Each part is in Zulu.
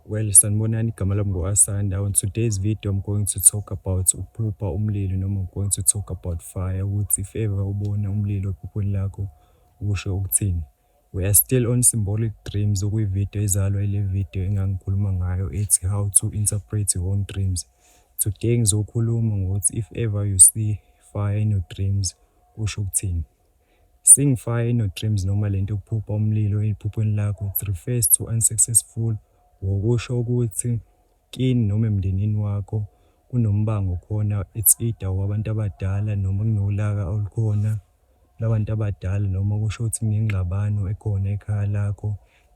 Well sanibonani igama lami ngu Asanda on today's video I'm going to talk about ukuphupha umlilo noma I'm going to talk about fire ukuthi if ever ubona umlilo ephuphweni lakho usho ukuthini We are still on symbolic dreams okuyivideo izalwa ile video engangikhuluma ngayo ethi how to interpret your own dreams. Today ngizokhuluma ngokuthi if ever you see fire in your dreams kusho ukuthini. Sing fire in your dreams noma lento yokuphupha umlilo ephuphweni lakho it refers to unsuccessful war kusho ukuthi kini noma emndenini wakho kunombango khona it's either owabantu abadala noma kunolaka olukhona labantu abadala noma kusho ukuthi kunengxabano ekhona ekhaya lakho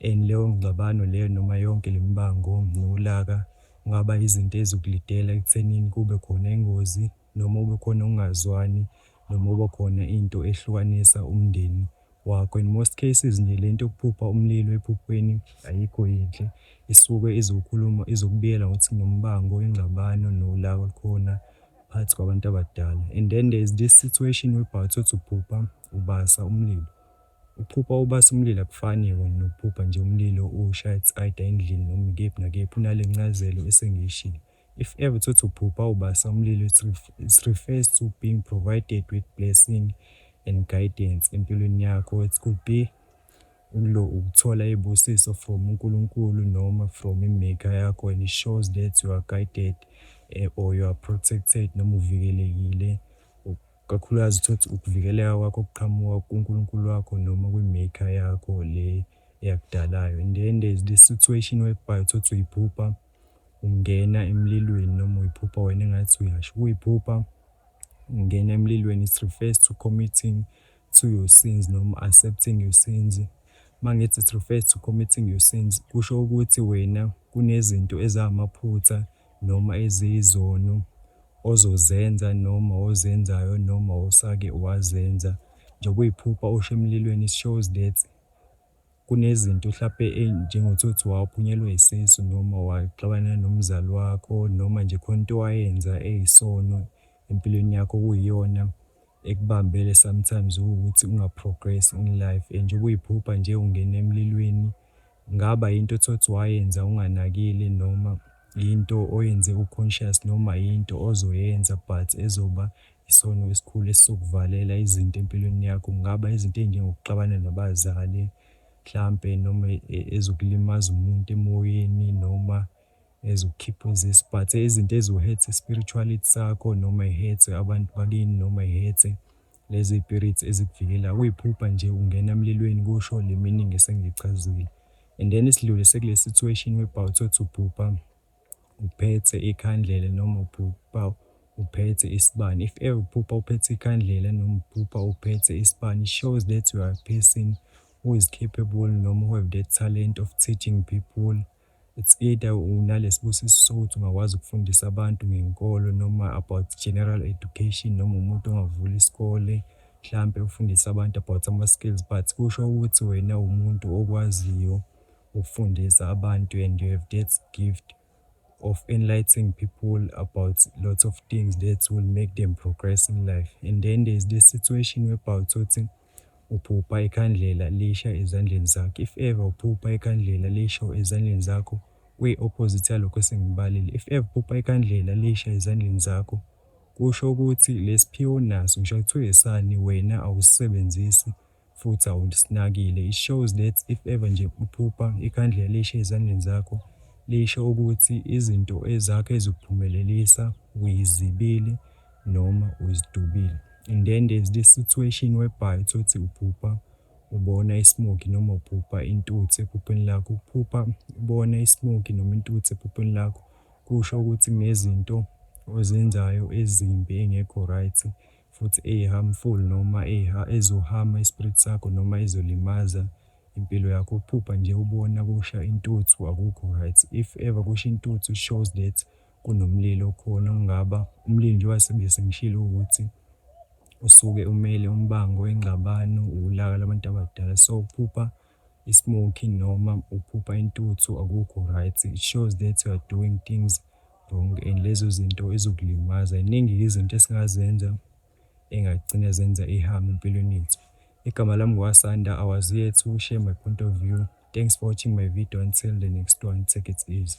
and leyo ngxabano leyo noma yonke lemibango nolaka kungaba izinto ezikulidela ekuthenini kube khona ingozi noma kube khona ukungazwani noma kuba khona into ehlukanisa umndeni wakho in most cases nje lento yokuphupha umlilo ephuphweni ayikho yinhle isuke izokhuluma izokubiyela ngokuthi kunombango ingxabano nolaka olukhona phakathi kwabantu abadala and then there is this situation whereby uthi uphupha ubasa umlilo ukuphupha ubasa umlilo akufani yona nokuphupha nje umlilo ushaya either endlini noma ikephi nakephi unale ncazelo esengiyishilo If ever utholukuthi uphupha ubasa umlilo it it refers to being provided with blessing and guidance empilweni yakho. It could be ukulo ukuthola iy'busiso from uNkulunkulu noma from imaker yakho and it shows that you are guided eh, or you are protected noma uvikelekile kakhulukazi uthothi ukuvikeleka kwakho kuqhamuka kuNkulunkulu wakho noma kwimaker yakho le eyakudalayo and then there's this situation whereby uthothi uyiphupha ungena emlilweni noma uyiphupha wena engathi uyasha. Ukuyiphupha ungena emlilweni it refers to committing to your sins noma accepting your sins. Uma ngithi it refers to committing your sins, kusho ukuthi wena kunezinto ezamaphutha noma eziyizono ozozenza noma ozenzayo noma osake wazenza. Njengoba uyiphupha usha emlilweni it shows that. Kunezinto hlampe enjengothothi waphunyelwa isisu noma waxabana nomzali wakho noma nje khona into owayenza eyisono empilweni yakho okuyiyona ekubambele sometimes ukuthi unga progress in life and njengoba uyiphupha nje ungena emlilweni kungaba yinto othothi wayenza unganakile noma yinto oyenze u conscious noma yinto ozoyenza but ezoba Isono esikhulu esizokuvalela izinto empilweni yakho kungaba izinto ezinjengokuxabana nabazali mhlampe noma ezokulimaza umuntu emoyeni noma ezokukhipha uzisi but izinto eziwuhethe spirituality sakho noma ihethe abantu bakini noma ihethe lezi spirits ezikuvikela kuyiphupha nje ungena emlilweni kusho le meaning esengichazile and then isidlule sekule situation webhawu thothi uphupha uphethe ikhandlela noma uphupha uphethe isibani. If ever uphupha uphethe ikhandlela noma uphupha uphethe isibani, shows that you are a person who is capable noma who have the talent of teaching people. It's either unalesibusiso sokuthi ungakwazi ukufundisa abantu ngenkolo noma about general education noma umuntu ongavula isikole mhlampe ufundise abantu about ama-skills but kusho ukuthi wena umuntu okwaziyo ukufundisa abantu and you have that gift of enlightening people about lots of things that will make them progress in life and then there is this situation whereby uthothi uphupha ikhandlela lisha ezandleni zakho if ever uphupha ikhandlela lisho ezandleni zakho kuyi-opposite yalokho esengibalile if ever uphupha ikhandlela lisha ezandleni zakho kusho ukuthi lesiphiwo naso ngisho kuthiwa esani wena awusisebenzisi futhi awulisinakile. It shows that if ever nje uphupha ikhandlela lishe ezandleni zakho lisho ukuthi izinto ezakho ezikuphumelelisa uyizibile noma uzidubile. And then there's this situation whereby uthi uphupha ubona ismoki noma uphupha intuthu ephupheni lakho. Ukuphupha ubona ismoki noma intuthu ephupheni lakho kusho ukuthi kunezinto ozenzayo ezimbi engekho right futhi eyi harmful noma eyi ha ezo harm ispirit sakho noma ezolimaza impilo yakho uphupha nje ubona kusha intuthu akukho right if ever kusha intuthu shows that kunomlilo okhona okungaba umlilo njengoba sebe sengishilo ukuthi usuke umele umbango ingxabano ulaka labantu abadala so ukuphupha i smoking noma uphupha intuthu akukho right it shows that you are doing things wrong and lezo zinto ezokulimaza iningi izinto esingazenza engagcina zenza ihame empilweni yethu igama lami ngwasanda i was here to share my point of view thanks for watching my video until the next one take it easy